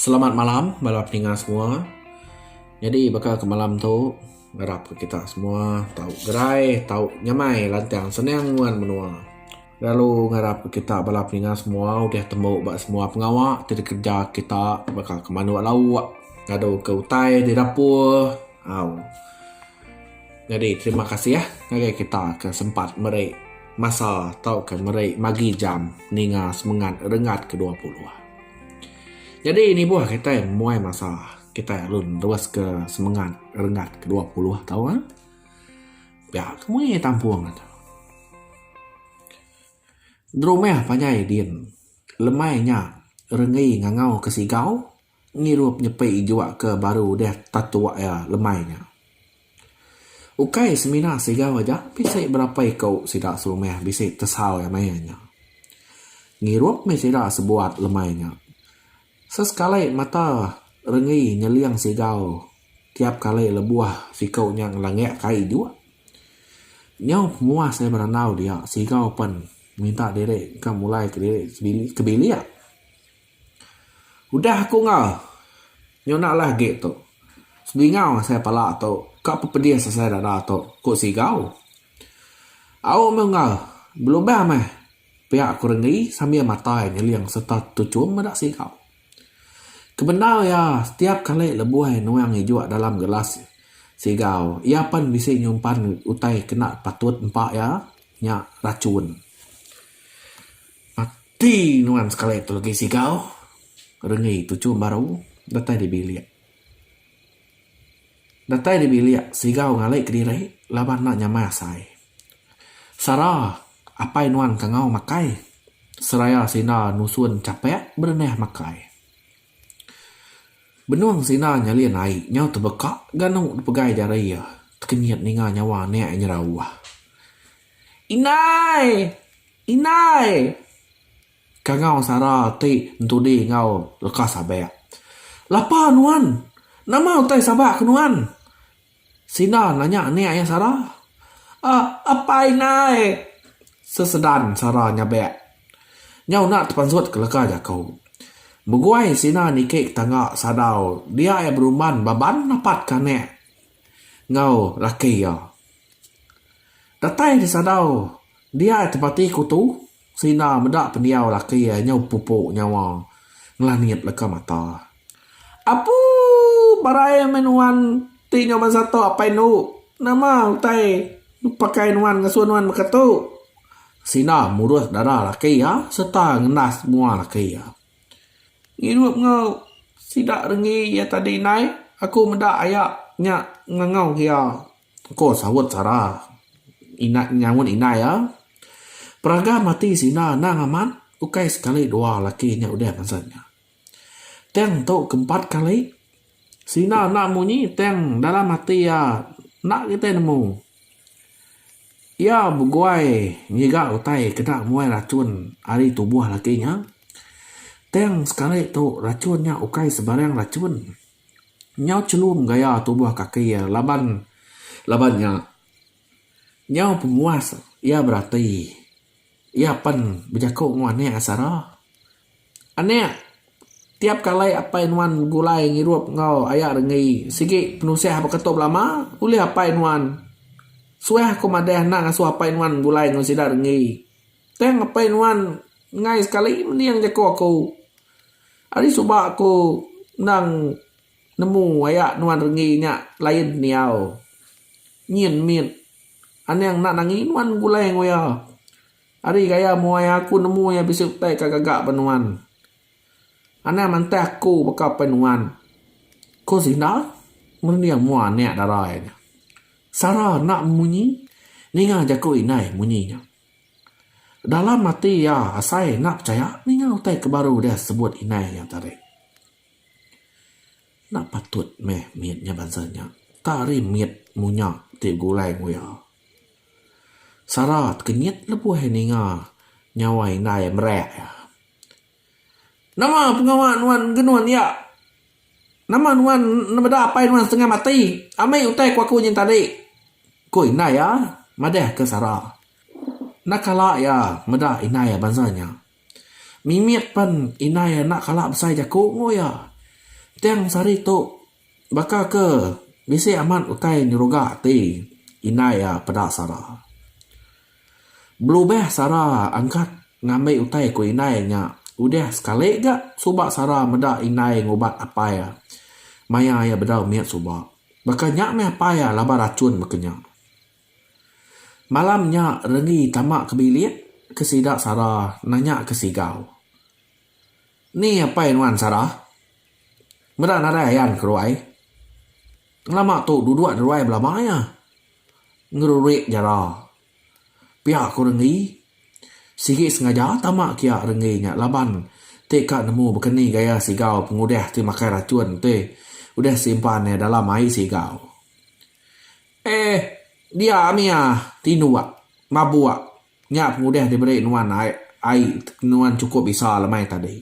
Selamat malam bala pendengar semua. Nyadi baka ke malam tu ngarap ku kita semua tau gerai tau nyamai lantang senang nguan menua. Lalu ngarap ku kita bala pendengar semua udah tembu ba semua pengawa ti dikereja kita baka ke mandu lauk, ngadu ke utai di dapur. Au. Nyadi terima kasih ngagai kita ke sempat meri masa tauka meri magi jam ninga semengat rengat ke dua puluh. Nyadi nibuh kitai muai masa kitai lalu neruska semengat rengat ke dua puluh tau ah. Pia ke mui tampung atu. Derumeh panjai din lemai nya rengei ngangau ke sigau. Ngirup nyepi jua ke baru udah tatua iya lemai nya. Ukai semina Sigau aja, bisi berapa iku sida serumah bisi tesau iya maya nya. Ngirup mih sida sebuat lemai nya. Sesekali mata Renggi nyeling Sigau tiap kali lebuh siku nya ngelangak kai jua. Nyau pemuas iya berandau dia, Sigau pen minta diri engka mulai kediri ke bilik. Udah aku enggau nyona lah agi tu. Sebingau asai pala tu ka pepedis asai dada tu, ku Sigau. Au meh enggau belubang meh pia ku Renggi sambil matai nyeling sereta tuchum meda Sigau. Kebendau iya setiap kali lebuh nuang ijuk dalam gelas Sigau, iya pen bisi nyumpan utai kena patut empa iya nya rachun. Ati nuan sekali tu lagi sigau rengi tuchum baru datai di bilik. Datai di bilik sigau ngali kediri laban enda nyamai asai. Sara apai nuan kangau makai seraya sida nusun chapek berenah makai. Benung sida nyalin ai nyau tebeka ganu dipegai jari iya tekenyit ninga nyawa anak iya nyerauh. Indai! Indai! Kangau Sara ti ntudi enggau leka sabak. Lapa nuan? Nama utai sabak ke nuan? Sinda nanya anak iya Sara. Aa apai indai! Sesedan Sara nyabak. Nyau enda tepansut ke leka jaku. Begui Sina niki ke tangga sadau dia iya berumban baban napatka anak. enggau laki iya. Datai disadau dia tepati kutu Sina meda pendiau laki iya nyau pupu nyawa ngelangit leka mata. Apu barai meh nuan ti nyau bansa tu apai enu. Nama utai pakai nuan ngasuh nuan mega tu? Sina murus dada laki iya sereta ngendas mua laki iya. Ngirup enggau sida renggi iya tadi indai, aku meda aya nya ngangau ke iya, ko saut Sara indai nyaut indai iya. Peragan mati sida anang amat ukai sekali dua laki nya udah ngasan nya. Tang tu ke empat kali. Sina enda munyi tang dalam ati iya enda kitai nemu. Iya beguai ngiga utai ke enda muai rachun ari tubuh laki nya. Tang sekali tu rachun nya ukai sebarang rachun. Nyau chelum gaya tubuh kaki iya laban laban nya nyau pemuas iya berati. Iya pen bejaku enggau anak sara. Anak, tiap kalai apai nuan begulai ngirup enggau aya renggi sigi penusah ba keto belama ulih apai nuan. Suah aku madah enda ngasuh apai nuan begulai enggau sida renggi. Tang apai nuan enggai sekali mening jaku aku. Ari suba aku endang nemu aya nuan renggi nya lain pendiau. Nyin mit. Anang enda nangi nuan begulai enggau iya. Ari gaya mua iya aku nemu iya bisi utai ka gaga ba nuan. Anang mantah aku baka pen nuan. Ko Zinda merunding mua anak dara iya nya. Sara enda memunyi ninga jaku indai munyi nya. Dalam ati iya asai enda pechaya ninga utai ke baru deh sebut indai iya tadi. Enda patut meh mit nya bansa nya. Tari mit munya ti begulai ku iya. Sara ke nyet lebuh iya ninga nyawa indai iya merak iya. Nama pengawa nuan ke nuan iya? Nama nuan enda meda apai nuan setengah mati? Ambi utai ku aku nyin tadi, ku indai iya madahka Sara. Enda kala iya meda indai iya bansa nya. Mimit pen indai iya enda kala besai jaku enggau iya. Tang sehari tu Baka ke bisi amat utai nyeruga ati indai iya peda sara. Belubeh sara angkat ngambi utai ku indai nya udah sekali ga suba sara meda indai ngubat apai iya maya iya bedau mit suba. Baka nya meh apai iya laban rachun baka nya. Malam nya Renggi tama ke bilik ke sida sara nanya ke Sigau. Ni apai nuan Sarah? Meda nadai ayan ke ruai? Ngelama tu duduk di ruai belama iya. Ngerurik jara. Pia ku Renggi. Sigi sengaja tama kia Renggi nya laban ti ka nemu bekeni gaya sigau pengudah ti makai rachun ti udah simpan iya dalam ai sigau. Eh, dia mia tinduk, mabuk. Nya pengudah diberi nuan ai ai nuan chukup bisa lemai tadi.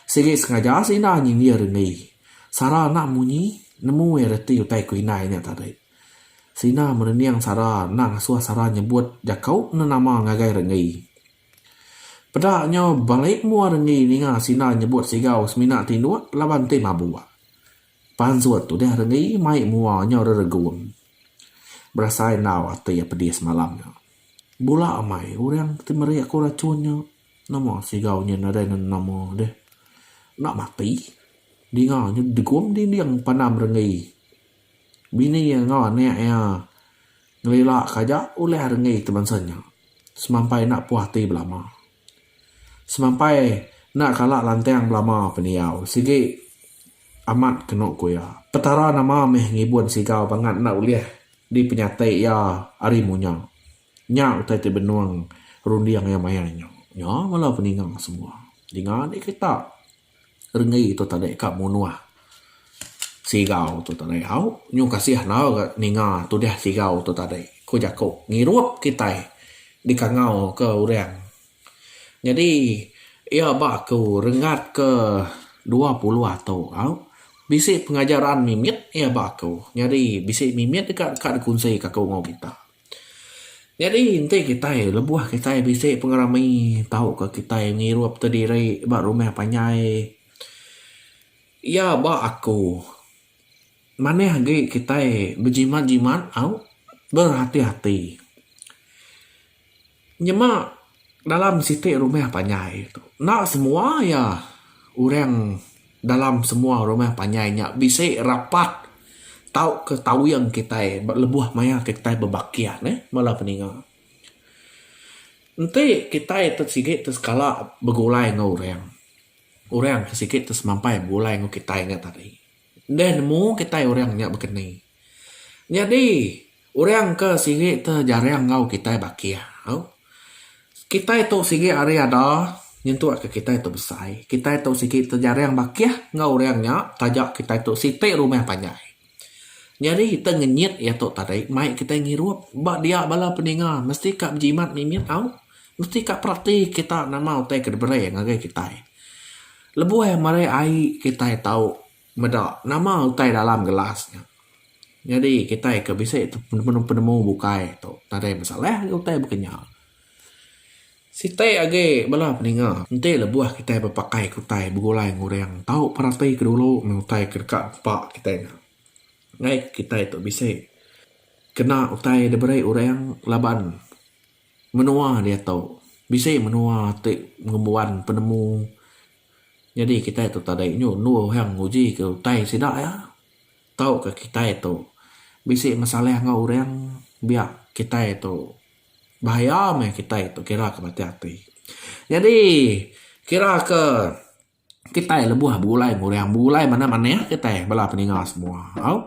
Sigi sengaja seindah nyindir enggi. Sara enda munyi nemu iya reti utai ku indai nya tadi. Seindah merening Sara enda ngasuh Sara nyebut jaku enda nama ngagai Renggi. Peda nyo balik mua Renggi ninga seindah nyebut sigau semina tinduk laban enti mabuk. Pansut tu deh renggi mai mua nyau reregun. Berasai endau ati iya pedih semalam nya. Bula amai orang ti meri aku racun nya. Nama sigau nya nadai nenama deh. Enda mati. Dinga nya degum dinding pandam renggi. Bini iya enggau anak iya ngelila ka aja ulih renggi ti bansa nya. Semampai enda puas ati belama. Semampai enda kala lantang belama pendiau sigi amat kenu ku iya. Petara nama meh ngibun Sigau bangat enda ulih dipenyati iya ari munya. Nya utai ti benung runding iya maya nya. Nya bala peninga semua. Dinga dikita. Renggi tu tadi ka munuh Sigau tu tadi au nyu kasih enggau ga ninga tudah Sigau tu tadi ku jaku ngirup kitai dikangau ke orang nyadi iya ba aku renggat ke dua puluh atu au bisi pengajaran mimit iya ba aku nyadi bisi mimit ka dikunsi ka aku enggau kita. Nyadi enti kitai lebuh kitai bisi pengerami tauka kitai ngirupka diri ba rumah panjai iya ba aku manah agi kitai bejimat jimat au berhati-hati. Nyema dalam siti rumah panjai tu enda semua iya orang dalam semua rumah panjai nya bisi rapat tauka tauing kitai ba lebuh maya ke kitai bebakih neh bala peninga. Enti kitai ti sigi ti sekala begulai enggau orang, orang ti sigi ti semampai begulai enggau kitai nya tadi deh nemu kitai orang nya bekeni. Nyadi orang ke sigi ti jarang enggau kitai bakih tu kitai tu sigi ari ada nyentuk ka kitai tu besai kitai tu sigi ti jarang bakih enggau orang nya taja kitai tu siti rumah panjai nyadi kita ngenyit iya tu tadi mai kitai ngirup ba dia bala peninga mesti ka bejimat mimit tau mesti ka perati kita nama utai ke diberi ngagai kitai lebuh meri ai kitai tau. Meda nama utai dalam gelas nya. Nyadi kitai ke bisi penemu-penemu bukai tu nadai masalah ngin utai baka nya. Siti agi bala peninga enti lebuh kitai bepakai ke utai begulai ngan orang tau peratika dulu meng utai ke deka nempa kitai nya. Nai kitai tu bisi kena utai da beri orang laban menua diatu bisi menua ti ngembuan penemu. Nyadi kitai tu tadai nyu endur orang nguji ke utai sida iya. Tau ka kitai tu bisi masalah enggau orang biak kitai tu bahaya meh kitai tu kira ka matik ati. Nyadi kira ke kitai lebuh begulai enggau orang begulai manah-manah kitai bala peninga semua au.